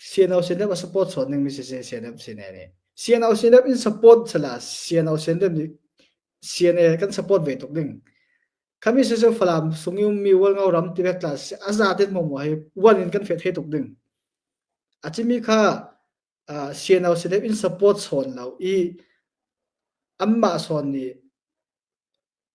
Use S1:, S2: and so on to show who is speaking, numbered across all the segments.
S1: CNO CNF a support sawt ning mi si si CNF sine ni CNO CNF in support sala CNO CNF ni CNA kan support ve tuk ding kami se se falam sungum mi wal ngau ram ti vetla aza ten mo mo hai wan in kan fet he tuk ding achimi kha CNO CNF in support son lau i amma son ni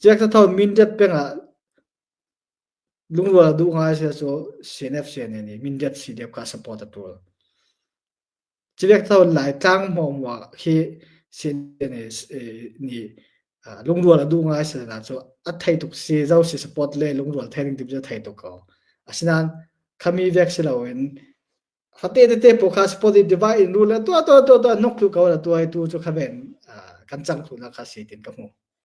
S1: Ciak thatho Mindat peng ah lungrual duh ngai si cu CNFC nih nih Mindat CDF ka support a tul. Ciak tho Lai tlang hmawng wa khi CNFC nih lungrual a duh ngai si na cu a thei tuk si zo si support le lungrual thei ding tim cu thei tuk ko. Asinain khami vek si loin fate tete po kha supportive divide in rule tua tua tua tua nuk tu ko la tua tu cu khaven kan chang tu na kha si tin ka hmu.